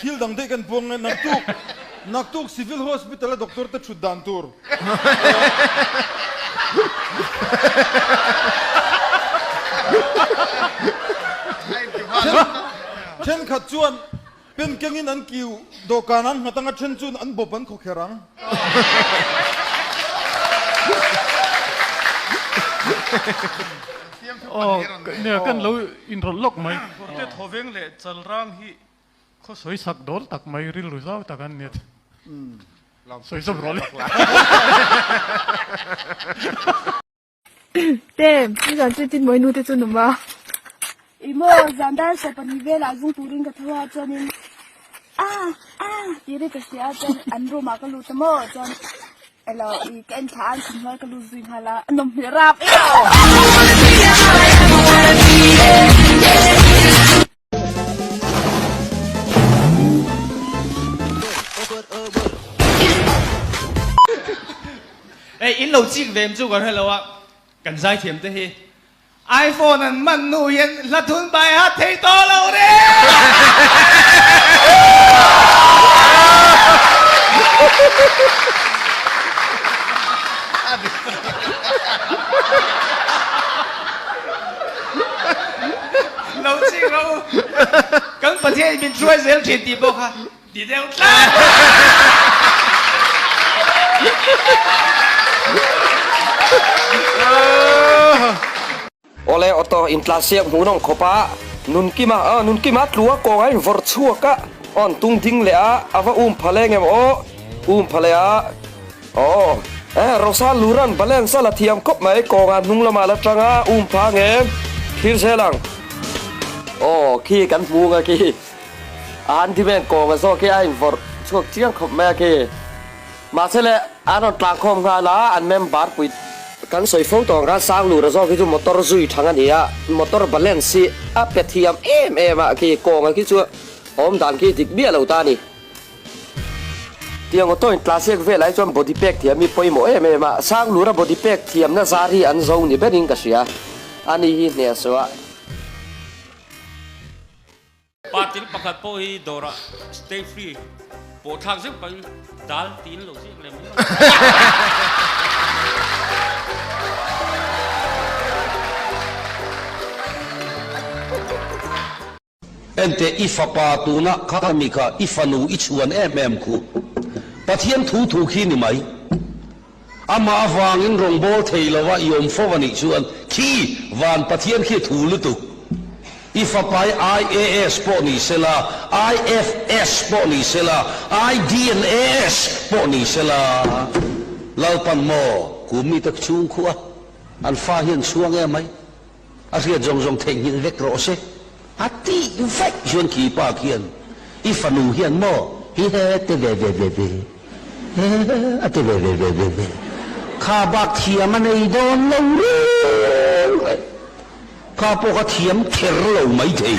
Thil dang daih kan puang nge naktuk naktuk civil hospital a doctor te thut dan tur then khat chuan pen keng in an kiu dawhkan an nghat ang a then chuan an bawp an khaw kher ang aww kan lo inrawlh lawk mai. Kawrte thawveng leh chalrang hi Khaw sawi sak dawl tak mai rilru zau tak an ni. Sawi zawk rawh le. Te, i zan chu i Tinmawii nu te chu num a. I maw zan dan sawi pahnih velah zung turin ka thu a chuanin Aa, aa tih ri ka hria a chuan an room ah ka lut a maw chuan elo i ka enthla a an chhun hnuaia ka lut zui nghal a, a nawm hmel rap emaw. Ei, in lo chik ve em chu ka hre lo a, kan zaithiam te hi iPhone an man nu hian Hladhun bai hat thei tawh lo re! Lo ching ro u, kan Pathian in min hruai zel thin tih pawh kha ti deuh tlat. Awle aw tawh, intla siam hmun awng khawpa nunkima a nunkima tlua kawngah in vawr chhuak a, aw an tung ding leh a, a va um phaleng em aw um phaleh a. Aw, eh, Rosal Luran balance a la thiam khawp mai, kawngah hnung lamah la tang a, um phang e, thlir zel ang. Aw, khi kan hmu nge khi, a handyman kawngah zawk hi a invorh chhuak chiang khawp mai a khi, mahsele an rawn tlangkhawm nghal a, an member pui. Kan sawi fo tawh ang khan Sang Lura zawk hi chu motor zui thang a ni a, motor balance hi a pe thiam em em a khi, kawngah khi chu awm dan khi dik biah lo ta a ni. Tiang auto in tla ziak velai chuan body pack thiam hi pawimawh em em a, sang lura body pack thiamna zar hi an zo ni berin ka hria, ani hi hne a suah. Patil pakhat pawh hi dawrah stay free pawhthlak zeuh pahin dal tiin lo ziak lem em. Ente i fapa tuna kami kha i fanu i chuan em em khu. Pathian thu thu khi ni mai. Amah avangin rawngbâwl thei lova i awm fo anih chuan khi van Pathian khi thu lutuk. I fapai IAS pawh ni sela, IFS pawh ni sela, IDNAS pawh ni sela. Lalpan maw? Kum mite chhung khuh a, an fa hian chhuang em mai. A hriat zawng zawng theihnghilh vek rawh se a tih vek chuan khi pa khian i fanu hian maw hi he te ve ve ve ve he a te ve ve ve ve ve kha bak thiam a nei dawn lo reng reng kha pawh ka thiam ther lo mai thei.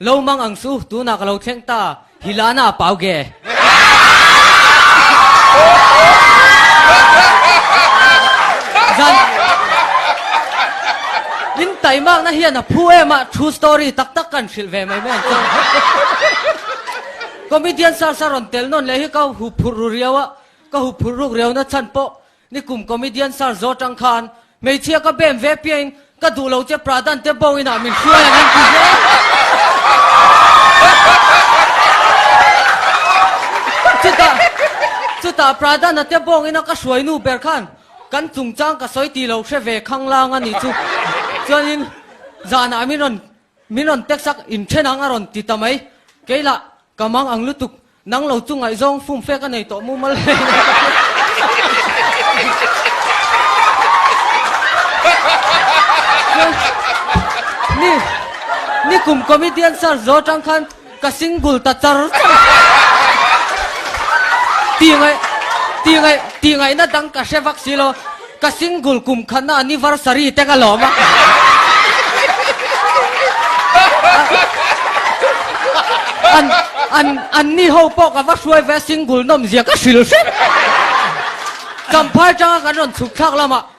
Lo mang ang chu, tunah ka lo thleng ta. Hi lana a pau ge. In taimak na hian a phu em a, true story tak tak kan hrilh ve mai mek Comedian sar sarawn tel nawn leh hi ka hu phurh ru riau a, ka hu phurh ruk riau nachhan pawh Ni kum comedian sir zawr tang khan hmeichhia ka bem ve piah in ka duh lo che pradan te bo in ah min hruai ang an ti hle chuta chuta pradan a te bawng in a ka hruai nu ber khan kan chungchang ka sawi ti lo hre ve khang lang a nih chu chuan in zan ah min rawn Min rawn teksak in then ang a rawn ti ta mai. Kei lah, ka mang ang lutuk. Nang lo chu ngaih zawng fum fek a nei tawh mumal mai a ni a. Ni ni kum comedian sir zawh atang khan, Ka single ta char char Tih ngai tih ngai tih ngai na dang ka hre vak si lo Ka single kum khan a anniversary te ka lawm a An an an ni ho pawh ka va hruai ve a single nawm zia ka hrilh hrep Champhai tanga kan rawn chhuk thlak lamah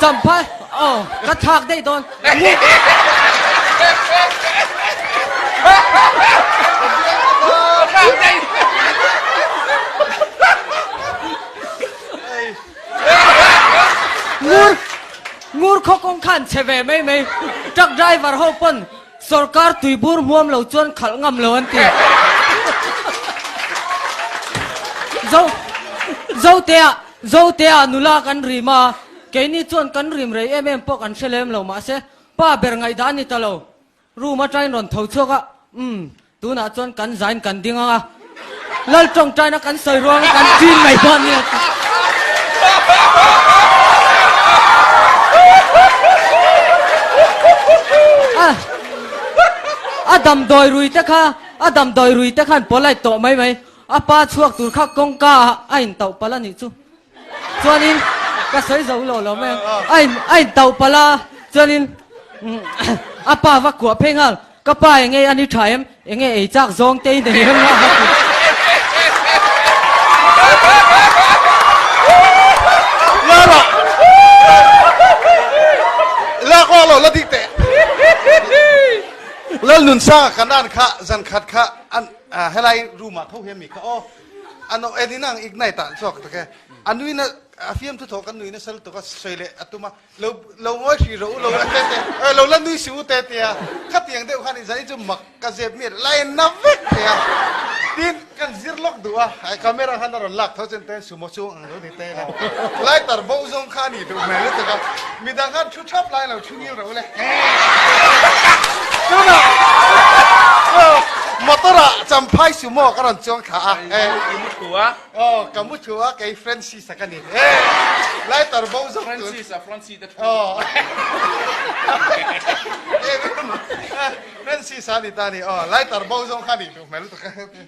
Champha aw ka thak daih dawn ngur ngur khaw kawng khan chhe ve mai mai truck driver ho pawn Sorkar tui bur hmuam lo chuan khalh ngam lo an ti. Zo Zotea Zotea nula kan rim a, keini chuan kan rim rei em em pawh kan hre lem lo mahse pa ber ngaihdah a ni ta lo. Room atain rawn tho chhuak a, umm Tunah chuan kan zain kan ding ang a, Lal tawngtaina kan sawi ruang a, kan chin mai dawn nia ti. A a damdawi rui te kha, a damdawi rui te khan polite tawh mai mai, a pa chhuak tur kha kawngka ah a in toh palh a nih chu. Chuanin ka sawi zo lo lo mai a in a in tauh palh a chuanin a pa va kuah phei nghal ka pa enge i a ni tha em enge ei chak zawng te i nei em a va ti lak awk lo la dik teh Lalnunsa ka nan kha zan khat kha an helai room ah kho hian mi kha aw A nawh en in ang ignite ah an chhuak tak e. A nui na, a fiam thu thaw kan nui nasal tuk a, sawi leh a tum a, lo lo ngawi hrih rawh u, lo la te te, eh lo la nui si u te a ti a, khati ang deuh khan i zan i chu mak ka zep miah la en na vek mai a, tin kan zir lawk duh a, camera khan a rawn lak tho chen ten sumo chhung ang. Lai tar boh zawng kha anih duh hmel lutuk a, mi dang khan thu thap lai lo thu ngil reuh le. Tunah motor ah champhai sumo ka rawn chuang thla a. I mu thu a. Aw ka mu thu a kei Francis a ka ni. Lai tar boh zawng tun. Francis a Francis te thu. Aw. Francis a ni ta ni aw lai tar boh zawng kha anih duh hmel lutuk a.